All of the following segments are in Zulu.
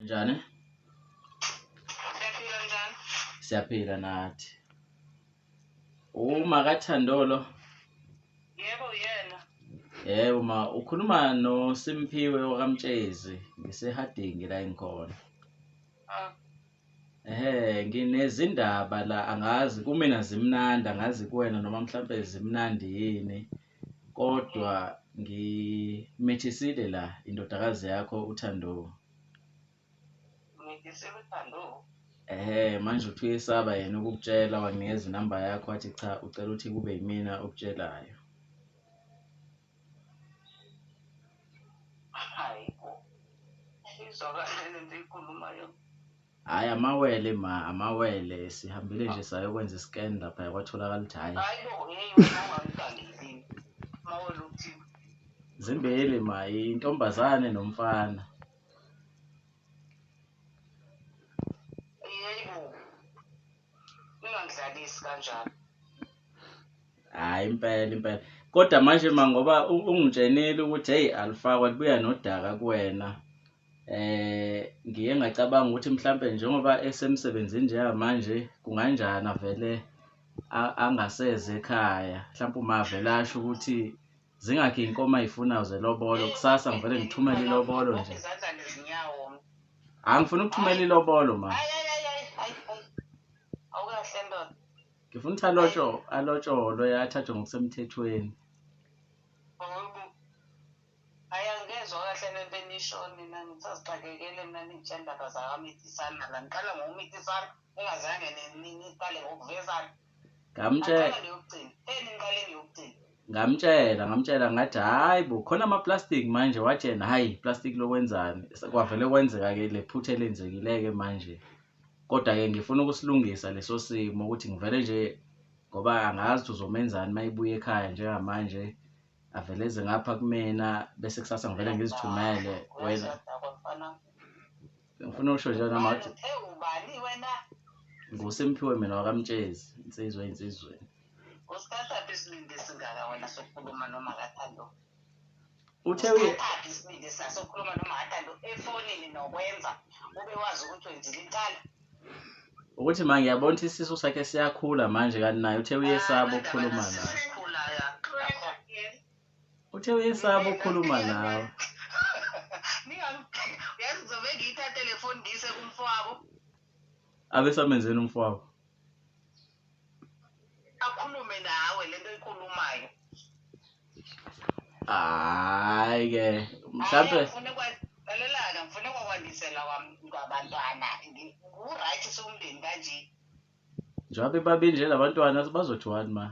njani Siyaphila njani? siyaphila nathi uma kathandolo Yebo uyena. yebo ma ukhuluma nosimphiwe wakamtshezi ngisehadingi la engikhona Ah, Ehhe nginezindaba la angazi kumina zimnandi angazi kuwena noma mhlampe zimnandi yini kodwa ngimithisile la indodakazi yakho uThando. Umithisile uThando? Ehhe manje uthi uyesaba yena ukukutshela wanginikeza inamba yakho wathi cha ucela ukuthi kube yimina okutshelayo. Hhayi amawele ma amawele sihambile nje sayokwenza i-scan lapha yakwatholakala ukuthi hhayi zimbili ma intombazane nomfana ungangidlalisi kanjalo hayi impela impela kodwa manje ma ngoba ungitshenile ukuthi heyi alifakwa libuya nodaka kuwena eh ngiye ngacabanga ukuthi mhlambe njengoba esemsebenzini njengamanje kunganjani avele angaseze ekhaya mhlawumbe uma avele asho ukuthi zingakhi inkomo ayifunayo zelobolo kusasa ngivele ngithumele ilobolo nje angifuna ukuthumela ilobolo ma ngifuna ukuthi alotsho alotsholwe athathwe ngokusemthethweni Ningazange niqale ngokuvezana. Ngamtshela. Ngamtshela, ngamtshela ngathi hayi bo khona ama plastic manje watshena hayi plastic lokwenzani. Kwavele kwenzeka ke lephutha elenzekile ke manje. Kodwa ke ngifuna ukusilungisa leso simo ukuthi ngivele nje ngoba angazi ukuthi uzomenzani mayibuya ekhaya njengamanje avele eze ngapha kumina bese kusasa ngivele ngizithumele wena. ngifuna ukusho nje noma ngathi ewubani wena nguSimphiwe mina wakamtshezi insizwa insizweni usikhathaphi isibindi esingaka wena sokukhuluma noma kathando uthe usikhathaphi isibindi esingaka sokukhuluma noma kathando efonini nokwenza ube wazi ukuthi wenzile inkala ukuthi ma ngiyabona ukuthi isisu sakhe siyakhula manje kanti naye uthe uyesaba ukukhuluma naye Uthe uyesaba ukukhuluma nawe. Yazi ngizobe ngiyithathe le foni ngiyise kumfowabo. Abesamenzeni umfowabo? Akhulume nawe lento oyikhulumayo. Hayi ke mhlambe ngifuna kwalelaka ngifuna kwakwandisela kwabantwana nguright somndeni kanje. Njengoba bebabe nje labantwana bazothiwani ma?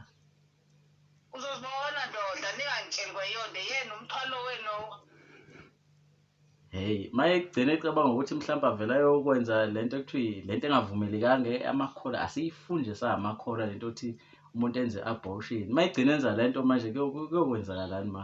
uzozibona ndoda ningangitsheli kwayonde yena umthwalo wenu hey maye kugcina ecabanga ukuthi mhlawumbe avela yokwenza le nto ekuthiwa le nto engavumelekanga amakhola asiyifunje sahamakhola le nto yokuthi umuntu enze abortion uma egcina enza le nto manje kuyokwenzakalani ma